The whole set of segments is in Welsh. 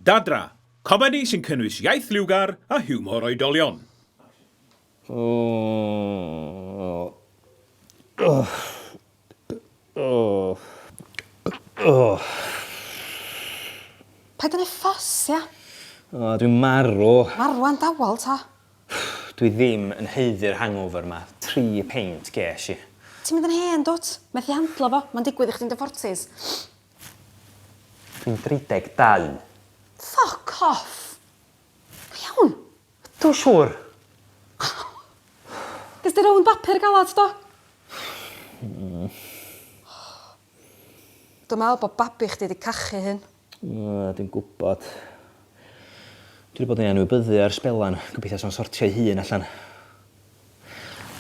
Dadra, comedi sy'n cynnwys iaith liwgar a hiwmor oedolion. Paid â neud ffys, ia? O, dwi'n marw. Marw am dawel, ta? Dwi ddim yn haeddu'r hangover 'ma. Tri peint gesh i. Ti'n mynd yn hen, dwt. Methu handlo fo. Ma'n digwydd i chdi'n dy fortis. Dwi'n 32. Ffyc off! Go iawn? Ydw, siŵr. Ges di rownd bapur galad, do? Hmm. Dwi'n meddwl bod babi chdi 'di cachu hyn. Yy, dwi'n gwybod. Dwi 'di bod yn ei anwybyddu ar sbelan. Gobeithio 'sa'n sortio'i hun allan.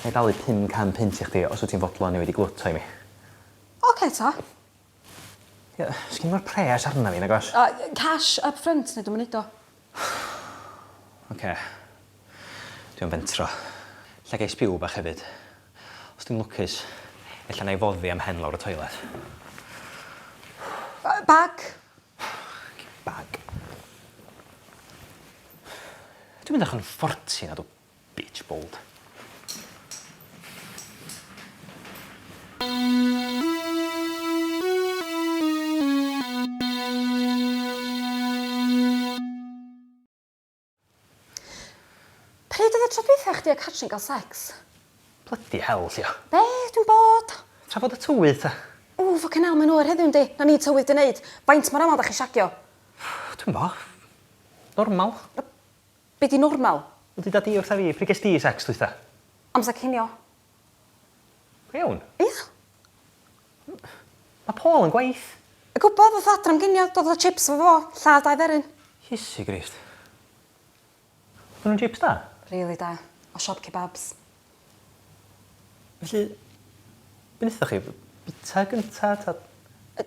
Ga i dalu pum can punt i chdi os wyt ti'n fodlon i wedi glwyto i mi? Ocê ta. Ie, sgin mo'r pres arna fi nagos? O yy cash up front ne' dw'm yn neud o. Oce. Dwi am fentro. Ella gai sbiw bach hefyd. Os dwi'n lwcus ella nai foddi a'm mhen lawr y toilet. Yy bag? Oce bag. Dwi'n mynd allan yn forty nadw? Bitch bold. Pryd oedd y tro dwytha chdi a Catrin ga'l sex? Blydi hel, Llio. Be? Dwi'n bod. Trafod y tywydd ta? Ww, ffycin hel, mae'n oer heddiw yndi? Na ni tywydd di neud. Faint mor amal da chi shagio? Dwi'm bo. Normal. Be di normal? Be duda di wrtha fi? Pryd ges di sex dwytha? Amser cinio. Go iawn? Ia. Mae Paul yn gwaith. Yy gwbo, ddoth o adra am ginio, dodd efo chips efo fo, lladd dau dderyn. Iesu Grist. Oddan nhw'n jips da? Rili da. O siop kebabs. Felly, be' nethoch chi? Bita gynta ta? Yy.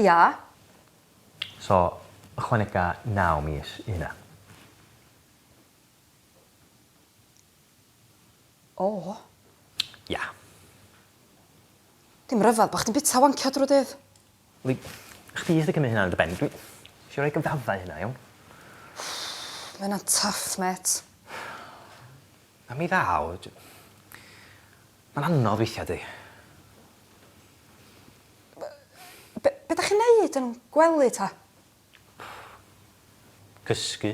Ia. So, ychwanega naw mis i hynna. O! Ia. Dim rhyfedd bo' chdi'n bita wancio drw'r dydd. Wel i chdi sy'n cymryd hynna ar dy ben. Dwi isio roi gyfraddau i hynna, iawn? Ma' hynna'n tough, mêt. A mi ddaw. Mae'n anodd weithia, 'di? Be- be- be' 'dach chi'n neud yn gwely ta? Cysgu.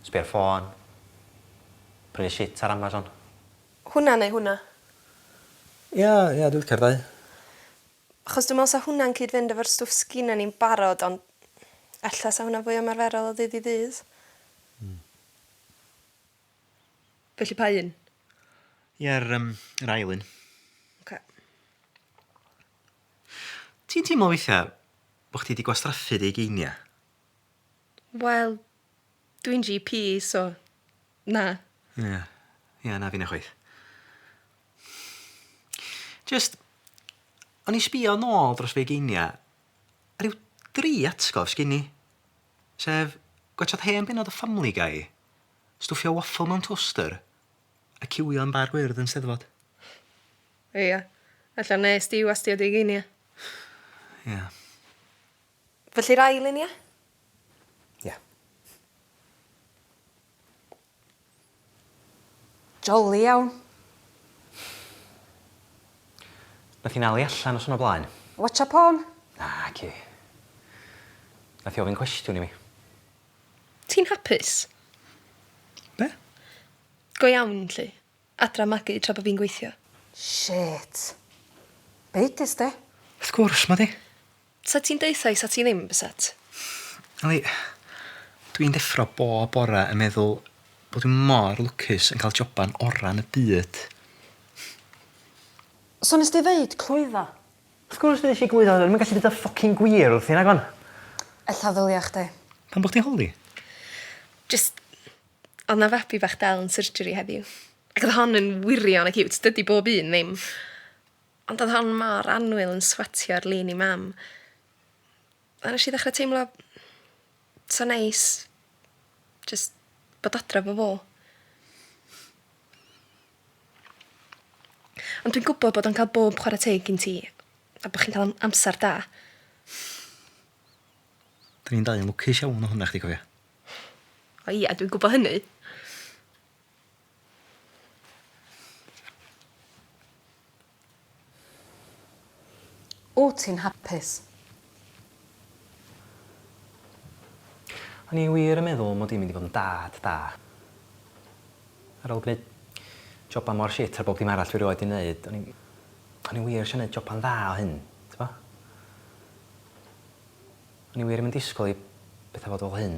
Sbio ar ffôn. Prynu shit ar Amazon. Hwnna neu hwnna? Ia, ia, dwi licio'r ddau. Achos dwi me'wl 'sa hwnna'n cyd-fynd efo'r stwff sgina ni'n barod ond ella 'sa hwnna'n fwy ymarferol o ddydd i ddydd. Hmm. Felly pa un? Ie'r um, yr ail un. Okay. Ti'n teimlo weithiau bod chdi wedi gwastraffu dy geiniau? Wel, dwi'n GP, so na. Ie, yeah. yeah, na fi'n chwaith. Just, o'n i sbio nôl dros fe geiniau, a rhyw dri atgof sgyn i. Sef, gwachod hen benod o Family Guy, Stwffio waffle mewn toaster a ciwio yn bar gwyrdd yn Steddfod. Ia. Ella wnest ti wastio dy ugeiniau? Ia. Felly'r ail un, ia? Ia. Joli iawn. Nath hi 'na li allan noson o blaen. Watsio porn? Naci. Nath hi ofyn cwestiwn i mi. Ti'n hapus? Be? Go iawn, 'lly. Adra magu tra bo' fi'n gweithio. Shit. Beiges de? Wrth gwrs, ma' 'di. Sa ti'n deutha i sa ti ddim, byset? Yli, dw i'n deffro bob bore yn meddwl bod dwi mor lwcus yn cael joban ora yn y byd. So nes di ddeud clwydda? Wrth gwrs bydd isie gwyddo dwi'm yn gallu deud y ffycin gwir wrthi nagon? Ella ddylia chdi. Pam bo' chdi holi? Jyst Odd 'na fabi bach del yn surgery heddiw. Ac odd hon yn wirion y ciwt. Dydi bob un ddim. Ond odd hon mor annwyl yn swatio ar lun 'i mam. A nesh i ddechra teimlo 'tha neis jyst bod adra efo fo. Ond dwi'n gwbod bod o'n ca'l bob chwara teg gin ti a bo' chi'n ca'l am- amsar da. 'Dyn ni'n dau yn lwcus iawn o hynna chdi cofia. O ia dwi'n gwbo hynny. Wyt ti'n hapus? O'n i wir yn meddwl mod i'n mynd i fod yn dad da. Ar ôl gwneud joban mor shit ar bob dim arall dwi rioed 'di 'neud, o'n i... o'n i wir isio 'neud joban dda o hyn, t'bo? O'n i wir 'im yn disgwl i betha fod fel hyn.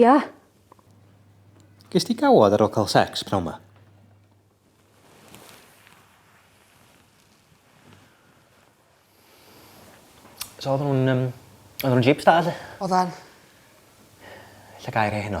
Ia. Ges ti gawod ar ôl cael sex pnawn 'ma? So oedden nhw'n um, oedden nhw'n jips da lle? Oedden. Lle gair ei heno?